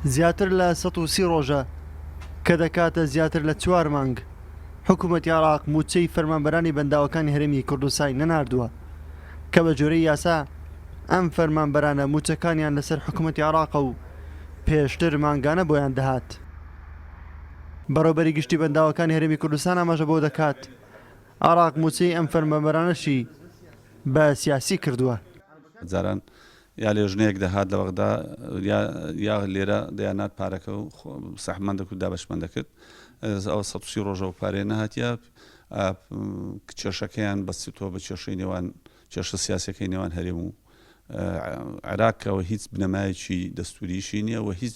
زیاتر لە سەد و سی ڕۆژە کە دەکاتە زیاتر لە چوار مانگ حکومەتی عێراق مووچەی فەرمانبەرانی بەنداوەکانی هەرێمی کوردستانی نەناردووە کە بە گوێرەی یاسا ئەم فەرمانبەرانە مووچەکانیان لەسەر حکومەتی عێراقە و پێشتر مانگانە بۆیان دەهات. بەڕێوبەری گشتی بەنداوەکانی هەرێمی کوردستان ئاماژە بەوە دەکات، عێراق مووچەی ئەم فەرمانبەرانەشی بە سیاسی کردووە. جاران یا لێژنەیەک دەهات لە بەغدا یا یا لێرە دەیانات پارەکە و سەحبمان دەکرد دابەشمان دەکرد ئەو سە سی ڕۆژەوە پارێ نەهاتە کێشەکەیان بەستیتەوە بە کێشەی نێوان کێشە سیاسەکەی نێوان هەرێم و عراقەوە هیچ بنەمایەکی دەستوریشی نییە و هیچ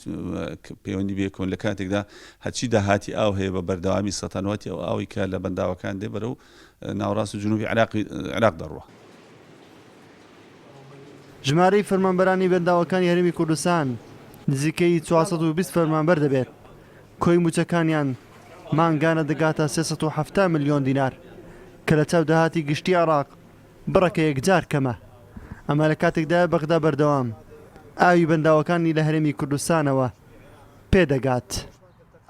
پەیوەندی بێکۆن لە کاتێکدا هەچی داهاتی ئاو هەیە بە بەردەوامی سەتەنواتی ئەو ئاوی کە لە بەنداوەکان دێ بەرە و ناوەڕاست و جنوبی عێراق دەڕوا. ژمارەی فەرمانبەرانی بەنداوەکانی هەرێمی کوردستان نزیکەی چوار سەد و بیست فەرمانبەر دەبێت، کۆی مووچەکانیان مانگانە دەگاتە سێ سەد و حەفتا ملیۆن دینار، کە لە چاو داهاتی گشتی عێراق بڕێکە یەکجار کەمە. ئەمە لە کاتێکدایە بەغدا بەردەوام ئاوی بەنداوەکانی لە هەرێمی کوردستانەوە پێدەگات.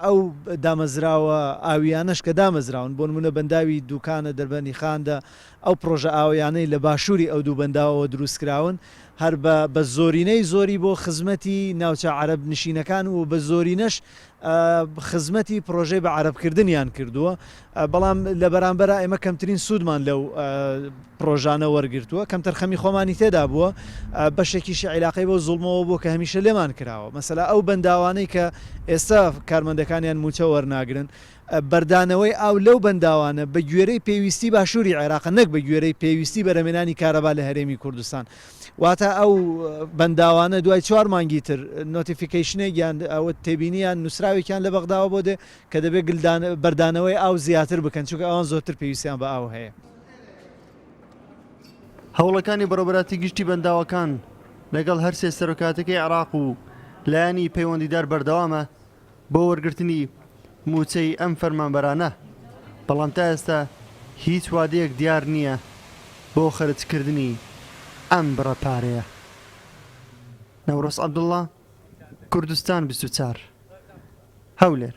ئەو دامەزراوە ئاوییانەش کە دامەزراون، بۆ نموونە بەنداوی دووکانە، دەربەنی خاندە، ئەو پڕۆژە ئاوییانەی لە باشووری ئەو دوو بەنداوەوە دروستکراون، هەر بە بە زۆرینەی زۆری بۆ خزمەتی ناوچە عەرەب نشینەکان و بە زۆرینەش خزمەتی پڕۆژەی بە عەرەبکردنیان کردووە. بەڵام لە بەرامبەرا ئێمە کەمترین سوودمان لەو پڕۆژانە وەرگرتووە، کەمتەرخەمی خۆمانی تێدا بووە، بەشێکیشی عیلاقەی بەو زوڵمەوە بووە کە هەمیشە لێمان کراوە، مەسەلا ئەو بەنداوانەی کە ئێستا کارمەندەکانیان مووچە وەرناگرن، بەردانەوەی ئاو لەو بەنداوانە بە گوێرەی پێویستی باشووری عێراقە نەک بە گوێرەی پێویستی بەرهەمێنانی کارەبا لە هەرێمی کوردستان، واتە ئەو بەنداوانە دوای چوار مانگی تر نۆتیفیکەیشنێک یان تێبینی یان نووسراوێکیان لە بەغداوە بۆ دێ کە دەبێت گلدان بەردانەوەی ئاو زیاتر بکەن، چونکە ئەوان زۆرتر پێویستیان بە ئاو هەیە. هەوڵەکانی بەڕێوەبەراتی گشتی بەنداوەکان لەگەڵ هەرسێ سەرۆکایەتیەکەی عێراق و لایەنی پەیوەندیدار بەردەوامە بۆ وەرگرتنی مووچەی ئەم فەرمانبەرانە، بەڵام تا ئێستا هیچ وادەیەک دیار نییە بۆ خەرجکردنی ئەم بڕە پارەیە. نەورۆز عەبدوڵا، کوردستان بیست و چوار. هەولێر.